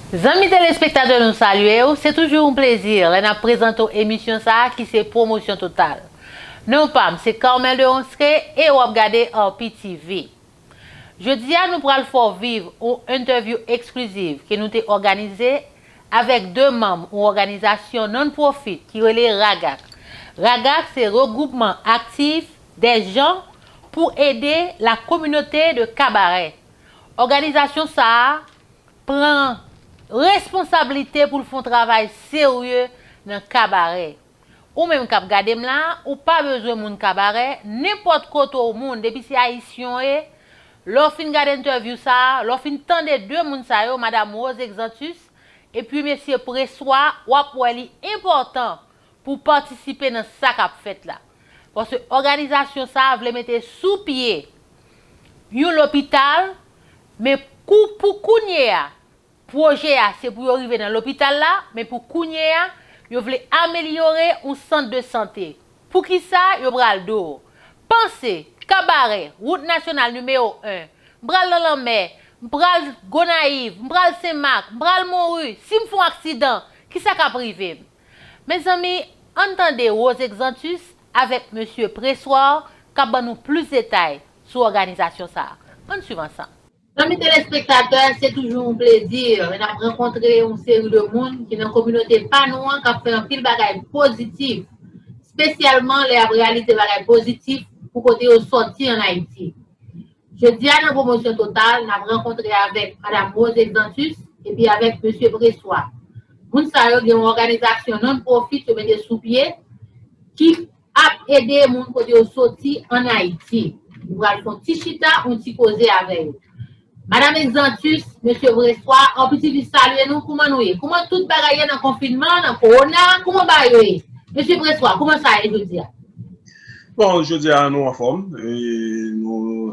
Zanmi telespektatè nou salye w, se toujou yon plezi lè n ap prezante w emisyon sa a ki se Pwomosyon Total. Non pa m se Carmel Deronceray e w ap gade Arpi TV. Jodi a nou pral fè w viv yon entèvyou ekskliziv ke nou te òganize avèk 2 manm yon òganizasyon non-profit ki rele RAGAC. RAGAC se Regroupement Actif des Gens pour Aider la Communauté de Cabaret. Òganizasyon sa a pran responsablite pou l fè yon travay serye nan kabarè. Ou menm kap gadem la ou pa bezwen moun kabarè nenpòt kote ou moun depi se ayisyen w ye lè w fin gad entèvyou sa lè w fin tande 2 moun sa yo madam Rose Exantus epi mesye Pressoir wap wè li enpòtan pou w patisipe nan sa kap fèt la paske òganizasyon sa vle mete sou pye yon lopital men kou pou kounye a Pwojè a se pou yo rive nan lopital la, men pou kounye a, yo vle amelyore yon sant de sante. Pou ki sa yo pral do? Panse, Kabarè, wout nasyonal nimewo 1, m pral nan lanmè, m pral Gonayiv, m pral Sen Mak, m pral Monru, si m fon aksidan, ki sa k ap rive m? Mezanmi, ann tande Rose Exantus avèk mesye Pressoir k ap ban nou plis detay sou òganizasyon sa a. Ann swiv ansanm. Zanmi telespektatè, se toujou yon plezi lè n ap rankontre yon seri de moun ki nan kominote pa nou an k ap fè anpil bagay pozitif, spesyalman lè y ap reyalize bagay pozitif pou kote yo sòti an Ayiti. Jodi a nan Pwomosyon Total, n ap rankontre avèk Madam Rose Exantus epi avèk Mesye Pressoir. Moun sa yo gen yon òganizasyon non-profit yo mete sou pye ki Ap ede moun kote yo soti an Ayiti. Nou pral fon ti chita, on ti koze avè yo. Madam Exantus, Mesye Vreswa, on piti li salye nou, kouman nou ye? Kouman tout bagay ye nan konfinman, nan kowona, kouman bagay yo ye? Mesye Vreswa, kouman sa ye jodi a? Bon, jodi a nou anfòm, e nou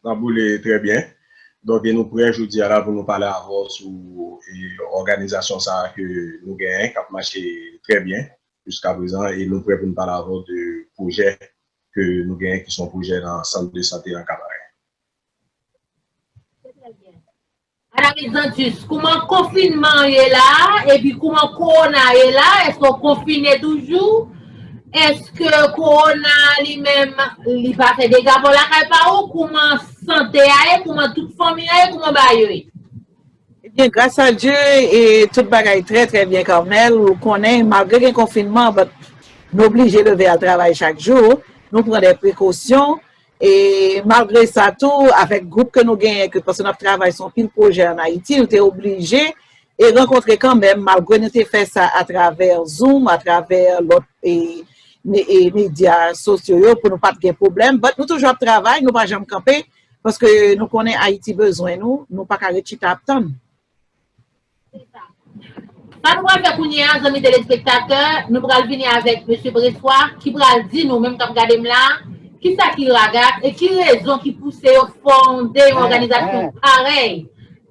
nan boule trè byen. Donk e nou prè jodi a la pou nou pale avè w sou òganizasyon sa a ke nou genyen, k ap mache trè byen. jiskaprezan e nou prè pou n pale avè w de pwojè ke nou genyen ki se yon pwojè nan sant de sante nan Kabarè. Se trè byen. Madam Exantus, kouman konfinman an ye la a epi kouman kowona a ye la a? Èske w konfine toujou? Èske kowona a li menm li pa fè dega bò lakay pa ou? Kouman sante a ye? Kouman tout fanmi an ye? Kouman bagay yo ye? Ebyen gras a Dye e tout bagay trè trè byen Carmel ou konnen malgre gen konfinman but nou oblije leve al travay chak jou, nou pran de prekosyon e malgre sa tou avèk gwoup ke nou genyen ke paske nap travay son pil pwojè an Ayiti nou te oblije e rankontre kanmenm malgre nou te fè sa atravè zoom atravè lòt e e medya sosyo yo pou nou pat gen pwoblèm but nou toujou ap travay nou pa janm kanpe Paske nou konnen Ayiti bezwen nou, nou pa ka ret chita ap tann. Se sa. Sa nou pral fè kounye a, zanmi telespektatè, nou pral vini avèk Mesye Preswa ki pral di nou menm k ap gade m la a, ki sa ki RAGAC e ki rezon ki pouse yo fonde yon òganizasyon parèy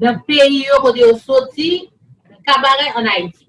nan peyi yo kote yo soti, nan Kabarè, ann Ayiti.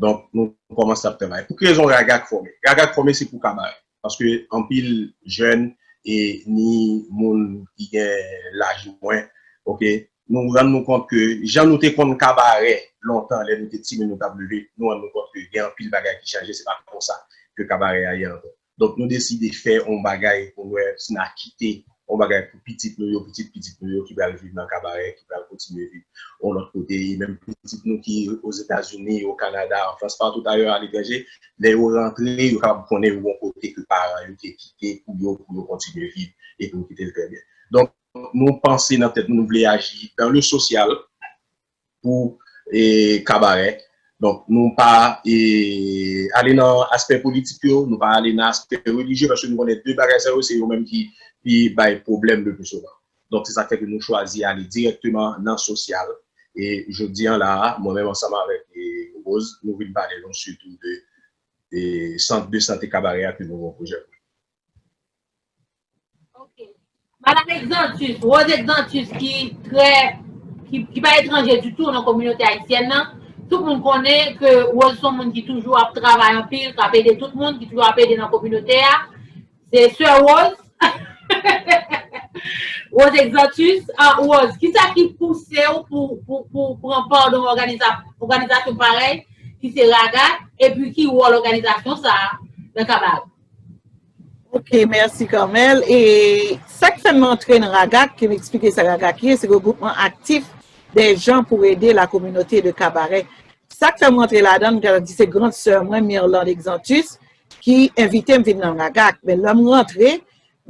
Donk nou kòmanse ap travay. Pou ki rezon RAGAC fòme? RAGAC fòme se pou kabarè. Paske anpil jèn e ni moun ki gen laj mwen ok nou rann nou kont ke jan nou te konn kabarè lontan lè nou te timoun nou t ap leve nou rann nou kont ke gen anpil bagay ki chanje se pa konsa ke kabarè a ye ankò. Donk nou deside fè yon bagay pou n wè si n a kite yon bagay pou pitit nou yo, pitit pitit nou yo ki pral viv nan Kabarè, ki pral kontinye viv yon lòt kote. E menm pitit nou ki Ozetazini, o Kanada, an Frans, patout ayè aletranje, lè yo rantre, yo kapab konnen yon bon kote ke paran yo te kite pou yo, pou yo kontinye viv e pou yo kite l trè byen. Donk nou panse nan tèt nou, nou vle aji dan le sosyal, pou kabarè. Donk nou pa ale nan aspè politik yo, nou pa ale nan aspè relijye paske nou konnen 2 bagay sa yo se yo menm ki pi bay pwoblèm le pi souvan. Donk se sak fè ke nou chwazi ale dirèkteman nan sosyal. E jodi an la a, mwen menm ansanm avèk Rose, nou vin pale nou sitou de sant de sante kabarè a ke nou gen yon pwojè pou li. Madam Exantus, Rose Exantus ki trè, ki pa etranje di tou nan kominote Ayisyèn nan, tout moun konnen ke Rose son moun ki toujou ap travay anpil, kap ede tout moun, ki toujou ap ede nan kominote a. Se sè Rose. Rose Exantus, Rose, ki sa ki pouse ou pou pran pa nan òganizasyon parèy ki se RAGAT, epi ki wòl òganizasyon sa a nan Kabav? Ok merci Carmel e sak fè m antre nan RAGAC ke m eksplike sa RAGAC ye se regroupman aktif dè jan pou ede la kominote de Kabarè sak fè m antre ladan m ta di se grand sè mwen Mirlande Exantus ki envite m vin nan RAGAC men lè m rantre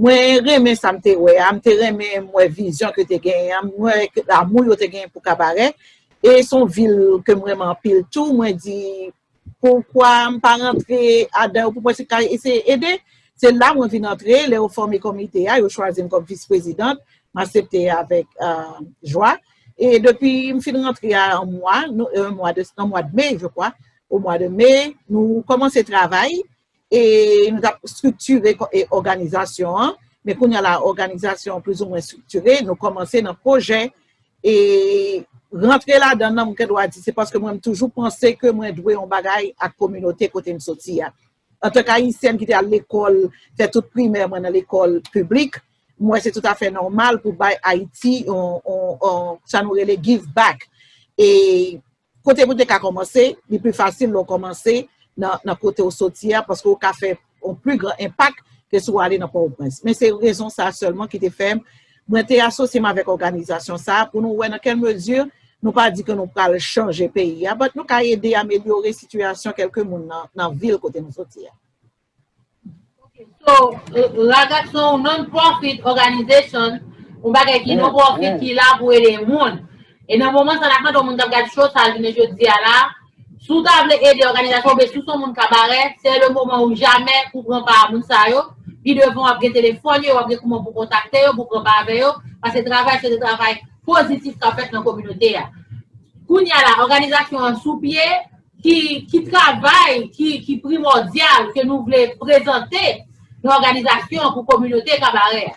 mwen renmen sa m te wè a m te renmen m wè vizyon ke te gen an m wè ke damou yo te gen pou Kabarè e son vil ke m renmen anpil tou mwen di Poukwa m pa rantre adan yo pou mwen se ka eseye ede? Se la mwen vin antre, lè yo fòme komite a, yo chwazi m kòm vis prezidant, m asepte avèk jwa. E depi m fin rantre a yon mwa, nan mwad me je kwa, o mwa de me, nou kòmanse travay, E nou t ap striktire òganizasyon an. Men kounye a la, òganizasyon an plizoumwen striktire. Nou kòmanse nan pwojè. E rantre ladan nan, mwen gen dwa di, se paske mwen m toujou panse ke mwen dwe yon bagay ak kominote kote m soti a. Antank Ayisyèn ki te al lekòl, fè tout primè mwen nan lekòl piblik, m wè se toutafè nòmal pou bay Ayiti yon, sa nou rele, give back. E Kote pou te ka kòmanse, li pi fasil lè w kòmanse nan kote w soti a paske w ka fè yon pi gran enpak ke si w ale nan Pòtoprens. Men se rezon sa a sèlman ki te fè mwen te asosye m avèk òganizasyon sa a pou nou wè nan kèl mezi nou pa di ke nou pral chanje peyi a but nou ka ede amelyore sitiyasyon kèlke moun nan vil kote nou soti a. So, Ragaz se yon non-profit organization, yon bagay ki non-profit ki la pou ede moun. E nan moman sa n ap mande yon moun k ap gad show sa jounen jodi a la, si w ta vle ede òganizasyon oubyen si w se yon moun kabarè, se le moman ou jamè pou w pran pa a moun sa yo. Pi devan w ap gen telefòn yo, w ap gen kouman pou w kontakte yo, pou w pran pa avè yo, pase travay sa se travay pozitif k ap fèt nan kominote a. Kounya la, òganizasyon an sou pye. Ki travay ki primòdyal ke nou vle prezante nan òganizasyon an pou kominote Kabarè a?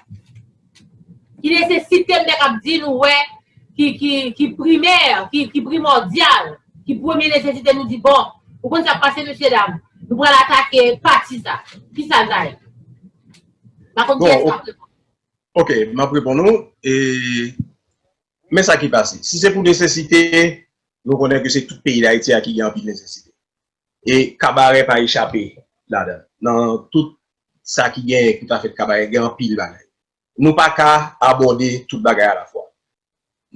Ki nesesite m ta kab di nou wè ki primè, ki primòdyal, ki premye nesesite nou di bon, ou konn sa k pase mesyedam, nou pral atake pati sa. Ki sa l ta ye? M pa konn kiyès k ap reponn. Ok, m ap reponn ou. Men sa ki pase, si se pou nesesite, nou konnen ke se tout peyi Dayiti a ki gen anpil nesesite. E kabarè pa echape ladan. Nan tout sa ki genyen ki pa fèt kabarè, gen anpil bagay. Nou pa ka abòde tout bagay alafwa.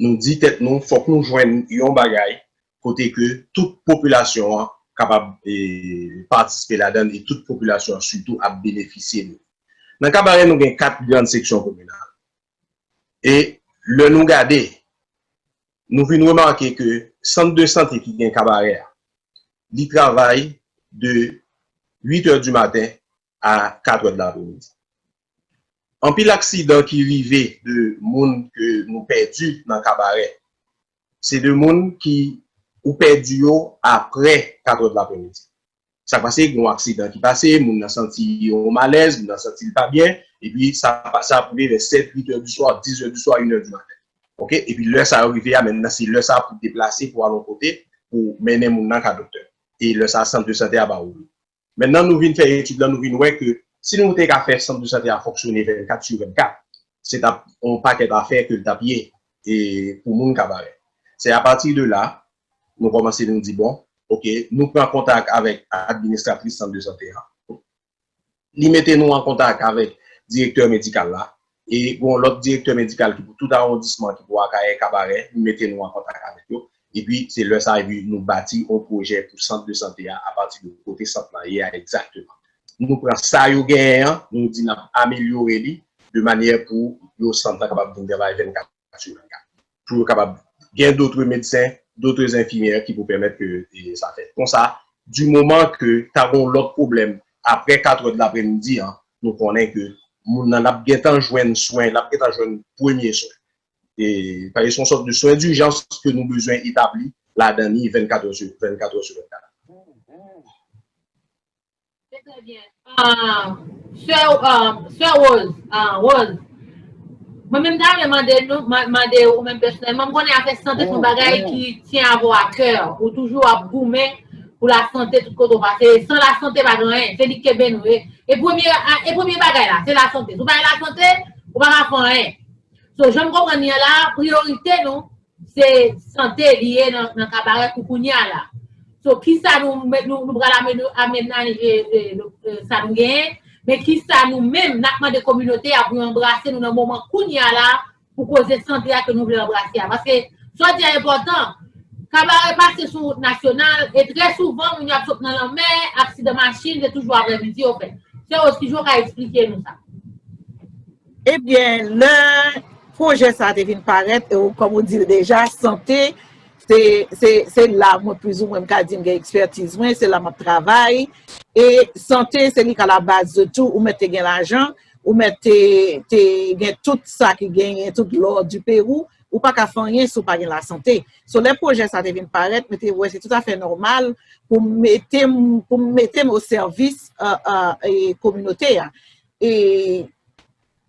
Nou di tèt nou fòk nou jwenn yon bagay kote ke tout popilasyon an kapab patisipe ladan li, tout popilasyon an sitou ap benefisye li. Nan kabarè nou gen 4 grand seksyon kominal. e lè nou gade nou vin remake ke sant de sante ki gen kabarè a li travay de 8 è di maten a 4 è de lapremidi. Anpil aksidan ki rive de moun ke nou pèdi nan kabarè se de moun ki ou pèdi yo apre 4 è de lapremidi. Sa k pase, gen yon aksidan ki pase, moun nan santi yon malèz, moun nan santi l pa byen, epi sa sa ap rive vè 7, 8 è di swa, 10 è di swa, 1 è di maten. Oke? Epi lè sa yo rive a, menmnan se lè sa a pou w deplase pou w al yon kote pou w mennen moun nan ka doktè. E lè sa a sant de sante a va ouvri. Menmnan nou vin fè etid lan, nou vin wè ke si nou te ka fè sant de sante a fonksyone 24 su 24, se t ap yon pakèt afè ke l t ap ye e pou moun ka pare. Se apati de la, nou kòmanse nou di bon, ok, nou pran kontak avèk administratris sant de sante a, li mete nou an kontak avèk direktè medikal la, e gon lòt direktè medikal ki pou tout awondisman ki pou Akayè, Kabarè, li mete nou an kontak avèk yo, epi se lè sa epi nou bati yon pwojè pou sant de sante a apati de kote sant lan ye a egzakteman. Nou pran sa yo genyen an, nou di n ap amelyore li de manyè pou yo sant lan kapab vin travay 24. sou 24 pou yo kapab gen dotre medsen, dotre zenfimyè ki pou pèmèt ke sa fèt. Konsa, di moman ke ta gen yon lòt pwoblèm apre 4 trè dlapremidi an, nou konnen ke moun nan ap gen tan jwenn swen, l ap gen tan jwenn premye swen. E, paske se yon sòt de swen dijans ke nou bezwen etabli ladan li 24 trè sou 24. Se trè byen. Sè Sè Rose Rose Mwen menm ta renmen mande nou mande ou menm pèsonèlman m konnen afè sante son bagay ki tyen avè w akè ou toujou ap goumen pou la sante tout kote ou pase san la sante pa gen anyen se li k kenbe nou e premye e premye bagay la se la sante si w pa gen la sante ou pa ka fè anyen so jan m konprann li an la priyorite nou Se sante li ye nan kabarè pou kounya la. So kisa nou pral amenay sa nou genyen, men kisa nou menm nap mande kominote a pou yo anbrase nou nan moman kounya la pou koze sante a ke nou vle anbrase a. Paske sa w di a enpòtan, kabarè pase sou wout nasyonal e trè souvan moun yo ap sot nan lanmè, aksidan machin se toujou aprè midi yo fè. Sè Ose kijan w ka esplike nou sa? Ebyen lè pwojè sa te vin parèt e ou kòm ou dil deja sante se la mwen pwizou mwen ka di m gen ekspertiz mwen se la map travay e sante se li ka la baz de tou ou mèt te gen lajan ou mèt te gen tout sa ki genyen tout lò di perou ou pa ka fè anyen sou pa gen la sante sou lè pwojè sa te vin parèt mwen te wè se tout afè nòmal pou m mete m pou m mete m o sèvis e kominote a E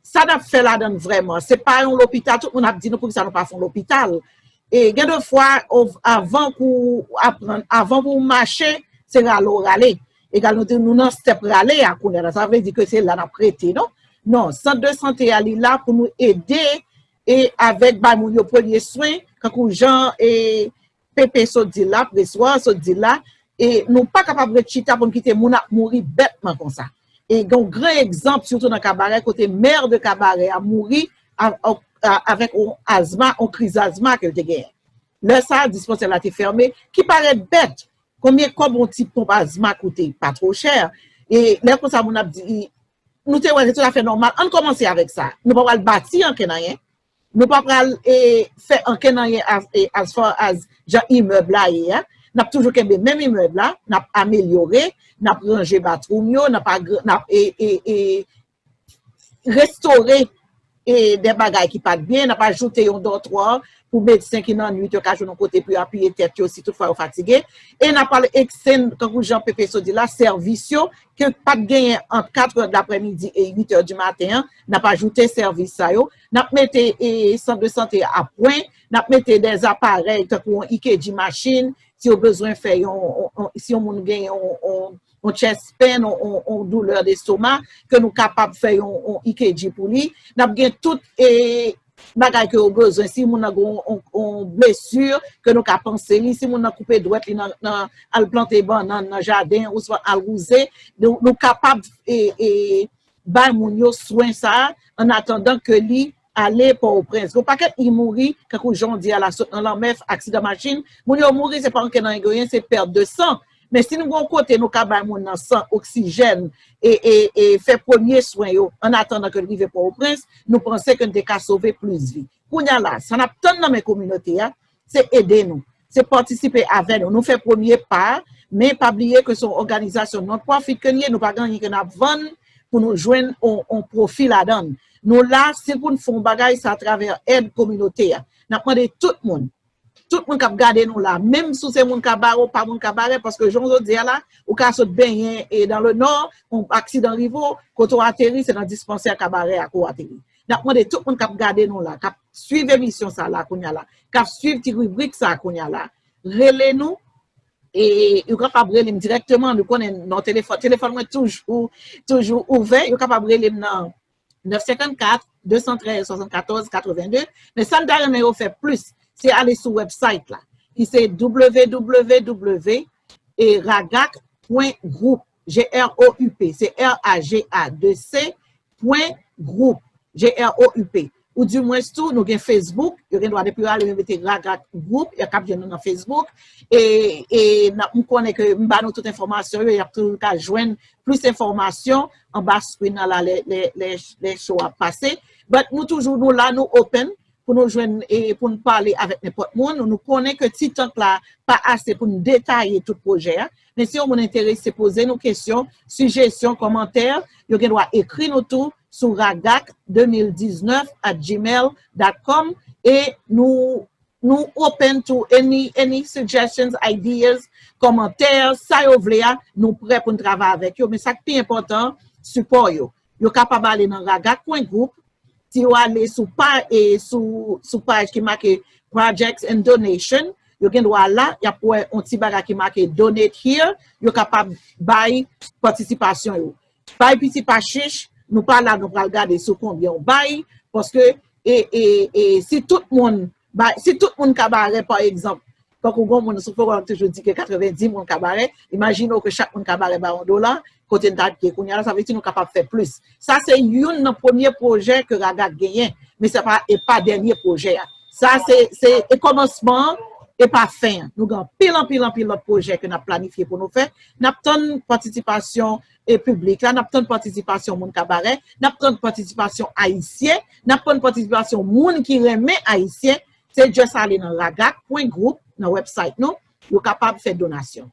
sa n ap fè ladan l vrèman? Se pa yon lopital, tout moun ap di nou poukisa nou pa fè yon lopital. E gen de fwa, avan pou ou aprann, avan pou ou mache, se rale ou rale. Egal nou di nou nan stèp rale a kounye a la. Sa vle di ke se la n ap rete non. Non, sant de sante a li la pou nou ede e avèk bay moun yo premye swen, kankou jan e Pepe sot di la, preswa sot di la, e nou pa kapab ret chita pou n kite moun ap mouri bètman konsa. E gen yon gran egzanp sitou nan Kabarè kote mè de Kabarè a mouri avèk yon azma, yon kriz azma ke l te genyen. Lè sa a, dispansè la te fèmen, ki parèt bèt. Konbyen kòb yon ti ponp azma koute? Pa two chè. E lè konsa moun ap di, nou te wè se toutafè nòmal, ann kòmanse avèk sa. Nou pa pral bati ankenn anyen. Nou pa pral fè ankenn anyen as far as jan imèb la ye a. N ap toujou kenbe menm imèb la, n ap amelyore, n ap ranje bathroom yo, n ap restore de bagay ki pat byen, n ap ajoute yon dòtwa pou medsen ki nan nwit yo ka jwenn yon kote pou yo apiye tèt yo si tout fwa yo fatige. E n ap pral ekstenn, tankou jan Pepe Sot di la, sèvis yo ke pat genyen ant katrè daprèmidi e uitè di maten an. N ap ajoute sèvis sa yo, n ap mete sant de sante a pwen, n ap mete dè aparèy tankou yon EKG machin, si yo bezwen fè yon, si yon moun gen yon chest pain, yon doulè destoma, ke nou kapab fè yon EKG pou li. N ap gen tout bagay ke yo bezwen, si moun nan gen yon blesi, ke nou ka panse li, si moun nan koupe dwèt li nan al plante bannann nan jaden, ouswa al wouze, nou kapab Bay moun yo swen sa a an atandan ke li ale Pòwoprens. Gen yon pakèt li mouri, kankou jan w di a la, sot nan lanmè, aksidan machin. Moun yo mouri, se pa anke nan angeyen, se pèt de san. Men si nou gen yon kote nou ka bay moun nan san, oksijèn, e, e, e fè premye swen yo an atandan ke l rive Pòwoprens, nou panse ke n te ka sove plis vi. Kounye a la, sa n ap tann nan men kominote a, se ede nou, se patisipe avè nou, nou fè premye pa, men pa bliye ke se yon òganizasyon non-profit ke n ye, nou pa gen anyen ke n ap vann pou nou jwenn yon pwofi ladan l. Nou la, se pou n fè yon bagay, se atravè èd kominote a. N ap mande tout moun, tout moun k ap gade nou la, menm si w se moun Kabare ou pa moun Kabare, paske jan w sot di a la, ou ka sot benyen e dan le nò, yon aksidan rive w, kote w ateri se nan dispansè Kabare a ke w ateri. N ap mande tout moun k ap gade nou la, k ap swiv emisyon sa la kounya la, k ap swiv ti ribrik sa kounya la, rele nou. E yo kapab rele m dirèkteman, nou konnen non telefòn. Telefòn mwen toujou, toujou ouvè. Yo kapab rele m nan 954 213 74 82. Men sa m ta renmen yo fè plis, se ale sou website la. Ki se www.ragak.group. GROUP, se RAGA2C pwen group, GROUP. Ou di mwens tou, nou gen Facebook, yo gen dwa depi yo ale yo mete Raga Group, yo kab jwenn nou nan Facebook. E m konnen ke m ba nou tout enfòmasyon yo, y ap toujou ka jwenn plis enfòmasyon anba screen nan la lè show a pase. But nou toujou nou la, nou open pou nou jwenn e pou nou pale avèk nenpòt moun, nou konnen ke ti tank la pa ase pou nou detaye tout pwojè a, men si yon moun enterese poze nou kesyon, sijesyon, kòmantè, yo gen dwa ekri nou tou sou ragac 2019 at gmail dot com e nou nou open to any any suggestions, ideas, kòmantè, sa yo vle a, nou prè pou nou travay avèk yo, men sa k pi enpòtan, sipò yo. Yo kapab ale nan Raga Kwen Group, si yo ale sou pa e sou paj ki make Projects and Donation, yo gen dwa la, y ap wè yon ti bagay ki make Donate Here, yo kapab bay patisipasyon yo. Bay piti pa chich, nou pa la nou pral gade sou konbyen ou bay, paske e si tout moun Bay, si tout moun kabarè pa egzanp, tankou gon moun sou forum toujou di ke 90 moun kabarè, imajine w ke chak moun kabarè bay yon dola, kote n ta p ye kounya la, sa vle di nou kapab fè plis. Sa se youn nan premye pwojè ke RAGAC genyen, men se pa, e pa dènye pwojè a. Sa se, se e kòmansman an, e pa fen an. Nou gen anpil, anpil, anpil lòt pwojè ke n ap planifye pou nou fè. N ap tann patisipasyon e piblik la, n ap tann patisipasyon moun kabarè, n ap tann patisipasyon Ayisyen, n ap tann patisipasyon moun ki renmen Ayisyen, se just ale nan ragak pwen group nan website nou, yo kapab fè donasyon.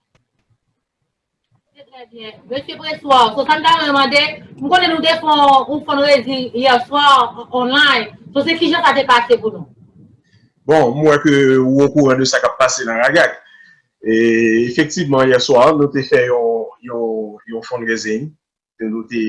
Se trè byen. Mesye Pressoir, so sa m ta renmen mande, m konnen nou te fè yon fundraising hier soir online, so se kijan sa te pase pou nou? Bon, m wè ke ou okouran de sa k ap pase nan ragak. Efektivman yè swa nou te fè yon fundraising, nou te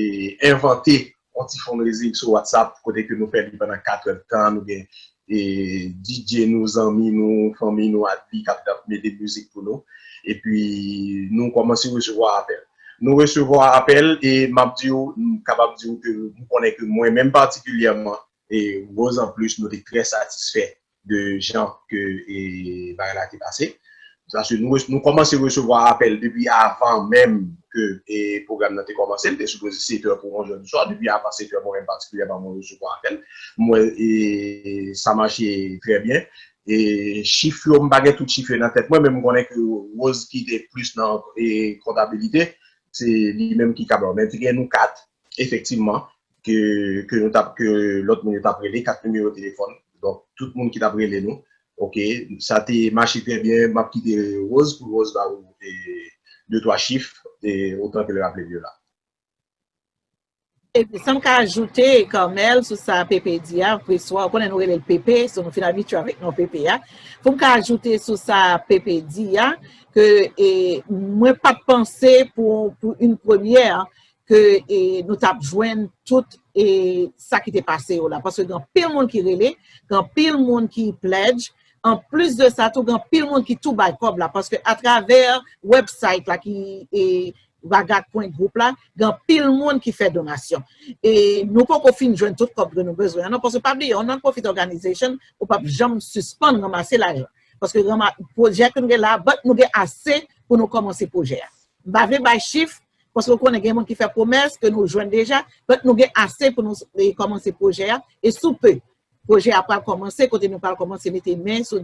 envante yon ti fundraising sou WhatsApp kote ke nou fè li pandan 4 èd tan, nou gen DJ nou, zanmi nou, fanmi nou ak li kap mete mizik pou nou, epi nou kòmanse resevwa apèl. Nou resevwa apèl e map di ou, m kapab di ou ke m konnen ke mwen menm patikilyèman e Rose anplis nou te trè satisfè de jan ke bagay la te pase. Paske nou kòmanse resevwa apèl depi avan menm ke pwogram nan te kòmanse. Li te sipoze setè pou onzè di swa. Depi avan setè mwen menm patikilyèman mwen resevwa apèl. M wè sa mache trè byen. Chif yo m pa gen tout chif yo nan tèt mwen men m konnen ke Rose ki te plis nan kontabilite se li menm ki kab. Men te gen nou 4 efektivman ke nou tap ke lòt moun yo tap rele 4 nimewo telefòn donk tout moun ki tap rele nou ok sa te mache trè byen map kite Rose pou Rose ba ou de twa chif otan ke l raple l yo la. Sa m ka ajoute Carmel sou sa Pepe di a preswa ou konnen nou rele l Pepe so nou fin abitye avèk non Pepe a pou m ka ajoute sou sa Pepe di a ke mwen pat panse pou yon premyè ke nou tap jwenn tout e sa ki te pase yo la. Paske gen pil moun ki rele, gen pil moun ki pledge, an plis de sa tou gen pil moun ki tou bay kob la. Paske a travè website la ki e ragag.group la, gen pil moun ki fè donasyon. E nou poko fin jwenn tout kob ke nou bezwen an non. Paske pa bliye, yon non-profit organization, ou pap janm sispann ranmase lajan. Paske ranma, projè ke nou gen la, but nou gen ase pou nou komanse projè a. M pa vle bay chif, Paske ou konnen gen moun ki fè pwomès ke nou jwenn deja, donk nou gen ase pou nou kòmanse pwojè a, e sou pe, pwojè a pral kòmanse kote nou pral kòmanse mete men sou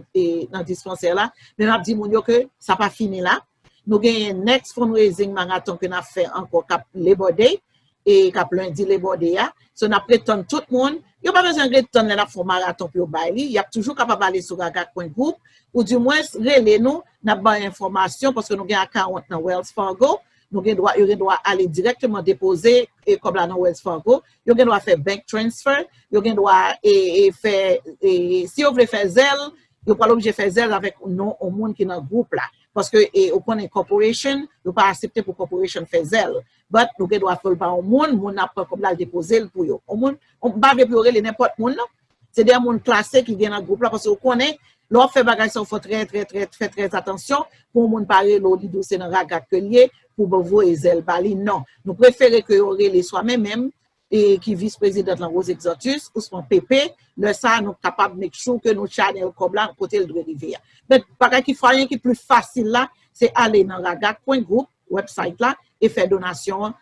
nan dispansè la, men map di moun yo ke sa pa fini la, nou genyen next fundraising marathon ke nap fè ankò kap Labor Day, e kap lundi Labor Day a, so nap ret tann tout moun, yo pa bezwen ret tann lè nap fè yon marathon pou yo bay li, yap toujou kapab ale sou ragacpointgroup, ou di mwens rele nou, N ap bay enfòmasyon paske nou gen akawont nan Wells Fargo. Nou gen dwa, yo gen dwa ale dirèkteman depoze e kòb la nan Wells Fargo. Yo gen dwa fè bank transfer. Yo gen dwa e fè e si yo vle fè Zelle, yo pral oblije fè Zelle avèk non yon moun ki nan gwoup la. Paske e ou konnen corporation, yo pa asepte pou corporation fè Zelle. But nou gen dwa fè l pa yon moun, moun nan ap pran kòb la, l depoze l pou yo. Yon moun, m pa vle pou yo rele nenpòt moun non. Se de moun klase ki gen nan gwoup la paske ou konnen lè w ap fè bagay sa ou fò trè trè trè fè trè atansyon pou yon moun pa rele w li di w se nan ragak ke l ye pou w voye zèl ba li non. Nou prefere ke yo rele swa men menm e ki vis prezidant lan Rose Exantus ousman Pepe lè sa a nou kapab make sure ke nou chanel kòb la kote l dwe rive a. Men bagay ki fwayen ki pli fasil la se ale nan ragak pwen gwoup, website la, e fè donasyon an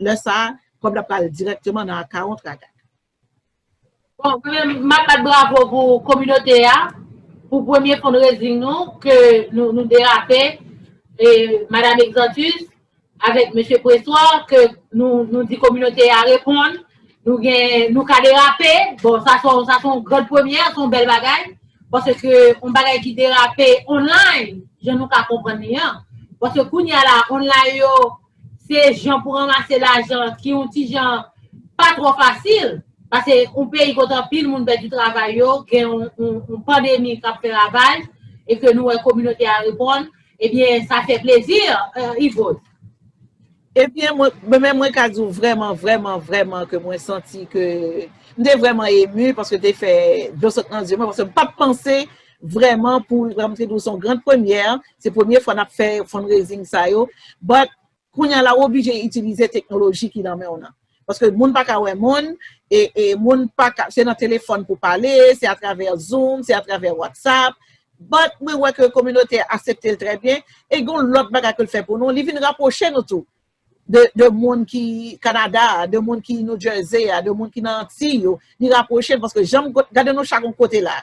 lè sa a kòb la pral dirèkteman nan akawont ragak. Bon, premyèman m ap bat bravo pou kominote a pou premye fundraising nou ke nou derape e Madam Exantus avèk Mesye Pressoir ke nou di kominote a reponn nou ka derape, bon sa se yon gran premyè, se yon bèl bagay paske yon bagay ki derape online jan nou ka konprann li an paske kounye a la online yo Se jan pou ranmase lajan ki yon ti jan pa twò fasil, pase yon peyi kote anpil moun pèdi travay yo, gen yon pandemi k ap fè ravaj, e ke nou wè kominote a reponn, ebyen sa fè plezi, Yvot. Ebyen mwen menm mwen ka di w vrèman, vrèman, vrèman ke mwen santi ke m te vrèman emu paske te fè dlo sot nan zye mwen, paske m pa t panse Vrèman pou Ram te di w se yon grand premyè, se premye fwa n ap fè fundraising sa yo, but kounye a la ou oblije itilize teknoloji ki nan men w nan. Paske moun pa ka wè moun, e moun pa ka, se nan telefòn pou pale, se atravè zoom, se atravè whatsapp, but mwen wè ke kominote a asepte l trè byen, e gen yon lòt bagay ke l fè pou nou, li vin rapwoche nou tou. de de moun ki Canada a, de moun ki New Jersey a, de moun ki nan Antiy yo, li rapwoche n paske jan m go gade nou chak yon kote la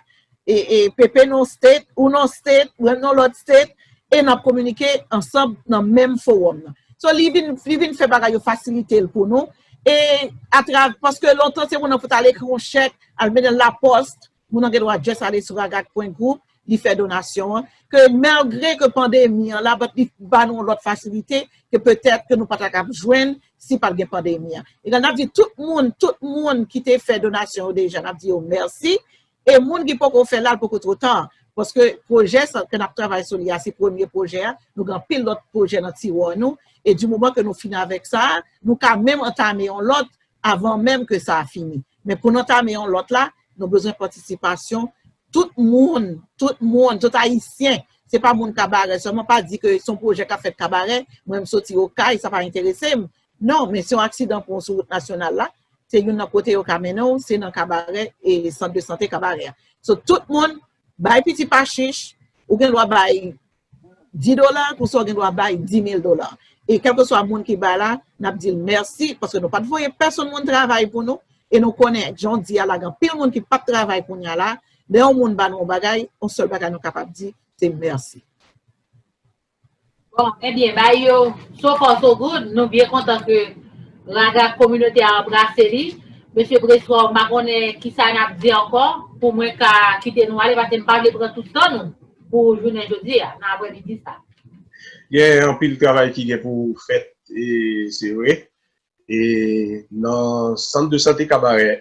e e Pepe nan yon state, ou nan yon state, mwen nan yon lòt state e n ap kominike ansanm nan menm fowòm nan. So li vin li vin fè bagay yo fasilite l pou nou e atrav paske lontan se moun nan pou t al ekri yon chèk, al mennen l laposte, Moun an gen dwa just ale sou ragag pwen group li fè donasyon an, ke malgre ke pandemi an la but li ba nou yon lòt fasilite ke petèt ke nou pa ta kab jwenn si pat gen pandemi an. Egal nap di tout moun, tout moun ki te fè donasyon yo deja nap di yo mèsi e moun ki poko fè la li poko two ta paske pwojè sa ke nap travay sou li a se premye pwojè a, nou gen anpil lòt pwojè nan tiwa nou e di moman ke nou fin avèk sa a nou ka menm antame yon lòt avan menm ke sa a fini. Men pou n antame yon lòt la, nou bezwen patisipasyon tout moun, tout moun, tout Ayisyen. Se pa moun Kabarè sèlman, pa di ke se yon pwojè k ap fèt Kabarè, mwen m soti Okay, sa pa enterese m. Non, men se yon aksidan pou w sou wout nasyonal la, se youn nan kote yo ka mennen w, se nan Kabarè, Sant de sante Kabarè a. So, tout moun, Bay piti pa chich, ou gen dwa bay 10 dola, konsa ou gen dwa bay 10,000 dola. E kèlkeswa moun ki bay la, n ap di l mèsi, paske nou pa t voye pèsonn moun travay pou nou, e nou konnen jan w di a la, gen anpil moun ki p ap travay kounye a la, lè yon moun ba nou yon bagay, yon sèl bagay nou kapab di, se mèsi. Bon, ebyen bay yo so far so good, nou byen kontan ke raga kominote a anbrase li. Mesye Preswa m pa konnen kisa n ap di ankò pou mwen ka kite nou ale pase m pa vle pran tout tan nou pou jounen jodi a, nan aprèmidi sa. Gen anpil travay ki gen pou fèt se vre e nan sant de sante Kabarè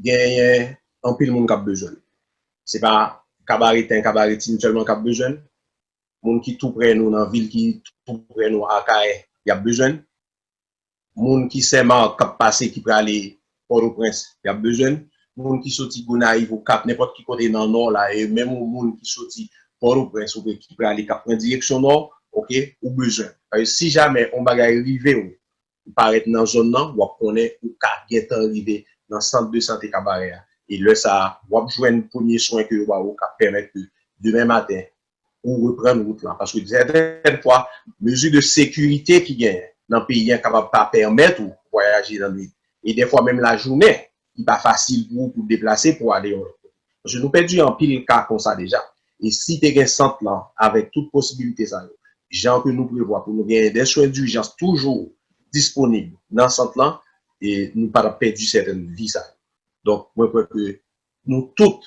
genyen anpil moun k ap bezwen l. Se pa kabareten, kabaretin sèlman k ap bezwen l. Moun ki toupre nou nan vil ki toupre nou Akayè, y ap bezwen l. Moun ki Senmak k ap pase ki prale Pòtoprens, y ap bezwen l. Moun ki soti Gonayiv, Okap, nenpòt ki kote nan Nò la e menm yon moun ki soti Pòtoprens oubyen ki prale k ap pran direksyon Nò, ok, ou bezwen l. Si jamè yon bagay rive w Ou parèt nan zòn nan, wap konnen ou ka gentan rive nan sant de sante Kabarè a e lè sa a wap jwenn premye swen ke yo ba ou kap pèmèt ke demen maten ou reprann wout la paske sèten fwa mezi de sekirite ki genyen nan peyi an kapab pa pèmèt ou vwayaje nan nwit e dèfwa menm lajounen ki pa fasil pou ou pou deplase pou ale yon lòt kote. Paske nou pèdi anpil ka konsa deja. E si te gen sant lan avèk tout posibilite sa yo, jan ke nou prevwa pou nou genyen dè swen durjans toujou disponib nan sant lan, e nou pa tap pèdi sèten vi sa yo. Donk mwen kwè ke nou tout,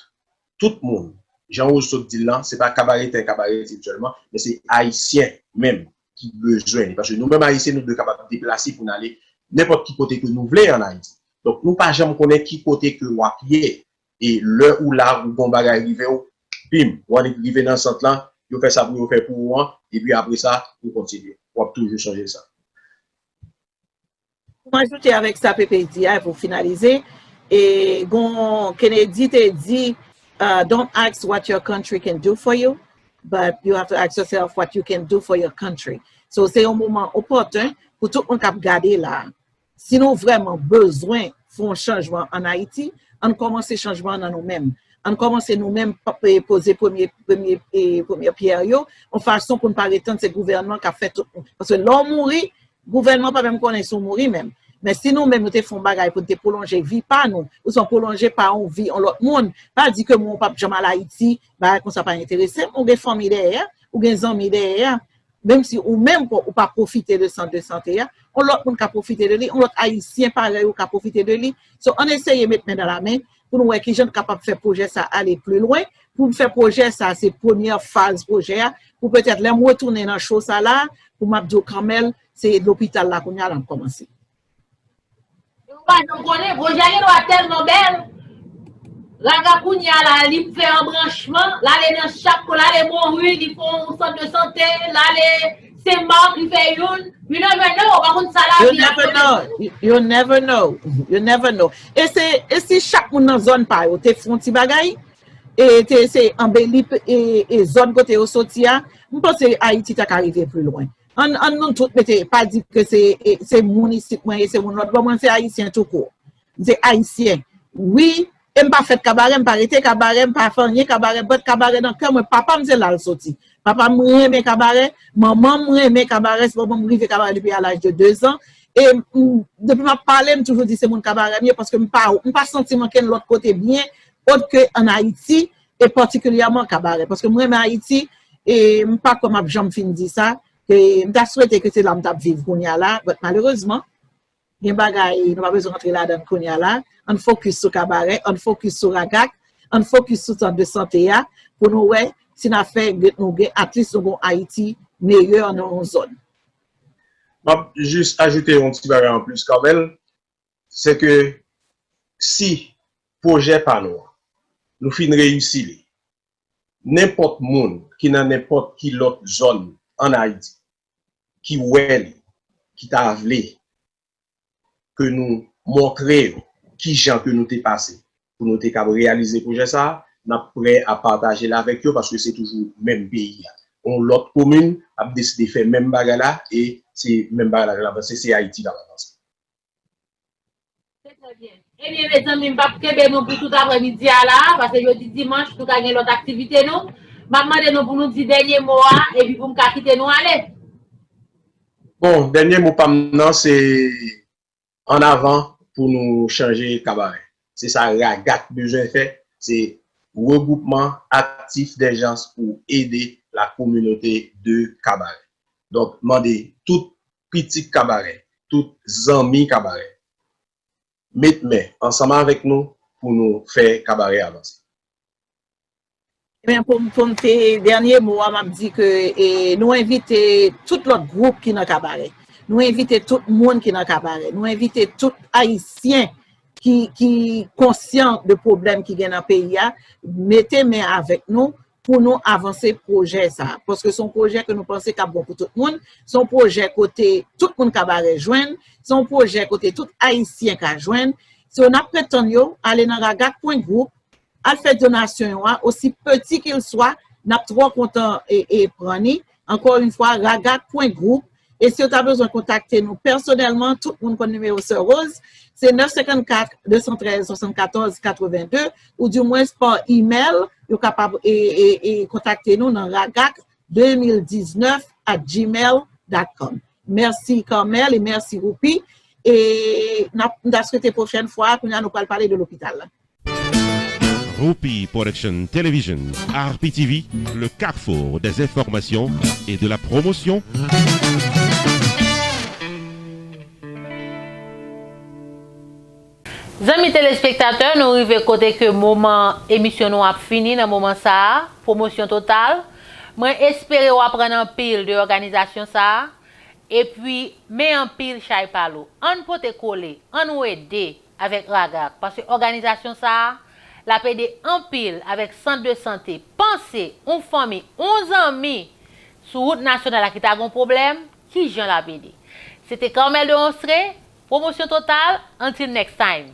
tout moun, jan Rose sot di l lan, se pa kabaretè kabaretid sèlman, men se Ayisyen menm ki bezwen li. Paske nou menm Ayisyen nou dwe kapab deplase pou n ale nenpòt ki kote ke nou vle an Ayiti. Donk nou pa janm konnen ki kote ke w ap ye. E lè ou la, ou gen yon bagay rive ou, pim, ou annik rive nan sant lan, yo fè sa pou yo fè pou ou an, epi apre sa, ou kontinye. W ap toujou sonje sa. Pou m ajoute avèk sa Pepe di a, pou finalize, e gon Kennedy te di, Don't ask what your country can do for you, but you have to ask yourself what you can do for your country. So, se yon moman opòten pou tout moun k ap gade la, si nou vrèman bezwen fè yon chanjman an Ayiti, ann kòmanse chanjman an nan nou menm. Ann kòmanse nou menm poze premye pyè yo, yon fason pou n pa ret tann se gouvènman k ap fè tout. Paske lè w mouri, Gouvènman pa menm konnen si w mouri menm. Men si nou menm nou te fè yon bagay pou n te pwolonje vi pa nou, ouswa pwolonje pa yon vi yon lòt moun, pa di ke mwen w pap janm al Ayiti, bagay konsa pa enterese m, ou gen fanmi dèyè a, ou gen zanmi dèyè a, menm si ou menm ou pa pwofite de sant de sante a, yon lòt moun ka pwofite de li, yon lòt Ayisyen parèy ou ka pwofite de li. So ann eseye met men dan lamen, pou nou wè ki jan n kapab fè pwojè sa a ale pli lwen, pou m fè pwojè sa a, se premyè faz pwojè a, pou petèt lè m retounen nan show sa la a, pou m ap di w Carmel, se lopital la kounye a l ap kòmanse. E ou pa janm konnen, pwojè a gen dwa tèlman bèl, Raga kounye a la a, li fè anbranchman, l ale nan chak kwen, l ale Monrue, li fè yon sant de sante, l ale. Saint Marc li fè youn, you never know, ou pa konn sa la vi ap pote pou ou. You never know, you never know. E se, e si chak moun nan zòn pa yo te fon ti bagay, e te eseye anbeli e zòn kote yo soti a, m panse Ayiti ta ka rive pli lwen. Ann nou tout mete, pa di ke se moun isit mwen ye, se moun lòt bò, mwen se Ayisyen tou kout. M se ayisyen wi e m pa fèt kabarè m pa rete kabarè m pa fè anyen kabarè but kabarè nan kè mwen papa m se la l soti papa m renmen kabarè manman m renmen kabarè se manman m rive kabarè depi a laj de 2 zan e m depi m ap pale m toujou di se moun kabarè m ye paske m pa m pa santi m ankenn lòt kote byen ot ke an ayiti e patikilyèman kabarè paske m renmen ayiti e m pa kwè m ap janm fin di sa e m ta swete ke se la m t ap viv kounya la but malerezman. Gen bagay nou pa bezwen antre ladan l kounya la. Ann fokis sou kabarè, ann fokis sou ragak, ann fokis sou sant de sante a pou nou wè si n a fè nou gen atlis nou gen yon Ayiti meyè nan yon zòn. M ap jis ajoute yon ti bagay anplis Carmel, se ke si pwojè pa nou an nou fin reyisi li, nenpòt moun ki nan nenpòt ki lòt zòn ann Ayiti ki wè li, ki ta vle ke nou montre yo ki jan ke nou te pase pou nou te kab reyalize pwojè sa a, n ap prè a pataje l avèk yo paske se toujou menm peyi a. Yon lòt komin ap deside fè menm bagay la e se menm bagay la k ap avanse, se Ayiti k ap avanse. Ebyen mezanmi m pap kenbe nou pou tout aprè midi a la a, pase jodi dimanch nou ka gen lòt aktivite nou. M ap mande nou pou nou di dènye mo a epi pou m ka kite nou ale. Bon, dènye mo pa m nan se an avan pou nou chanje kabarè. Se sa RAGAC bezwen fè, se Regwoupman Aktif Dèjans pou Ede Lakominote de Kabarè. Donk mande tout pitit kabarè, tout zanmi kabarè met men ansanm avèk nou pou nou fè kabarè avanse. Ebyen pou m te dènye mo a m ap di ke nou envite tout lòt gwoup ki nan kabarè, nou envite tout moun ki nan kabarè, nou envite tout ayisyen ki konsyan de pwoblèm ki gen nan peyi a mete men avèk nou pou nou avanse pwojè sa a. Paske se yon pwojè ke nou panse kap bon pou tout moun, se yon pwojè kote tout moun kabarè jwenn, se yon pwojè kote tout ayisyen ka jwenn. So nap pretann yo ale nan ragak pwen gwoup, al fè donasyon yo a, osi peti ke l swa, nap twò kontan e pran ni, Ankò yn fwa, Ragat pwen gwoup, e si yo ta bezwen kontakte nou pèsonèlman, tout moun konn nimewo Sè Rose, se 954 213 74 82, ou di mwens pa imèl, yo kapab kontakte nou nan ragat 2019 at gmail dot com. Mèsi Carmel e mèsi Roopy, e m ta swete pwochèn fwa, kounya nou pral pale de lopital la. Rupi Production Television, RPTV, le carrefour des informations et de la promotion. Zanmi telespektatè nou rive kote ke moman emisyon nou ap fini nan moman sa a, Promosyon Total, mwen espere w aprann anpil de òganizasyon sa a, epi men anpil chay pa lou. Ann pote kole, annou ede avèk RAGAC paske òganizasyon sa a l ap ede anpil avèk sant de sante panse on fanmi on zanmi sou wout nasyonal la ki ta gon pwoblèm ki jan l ap ede se te Carmel de Onstre Promosyon Total until next time.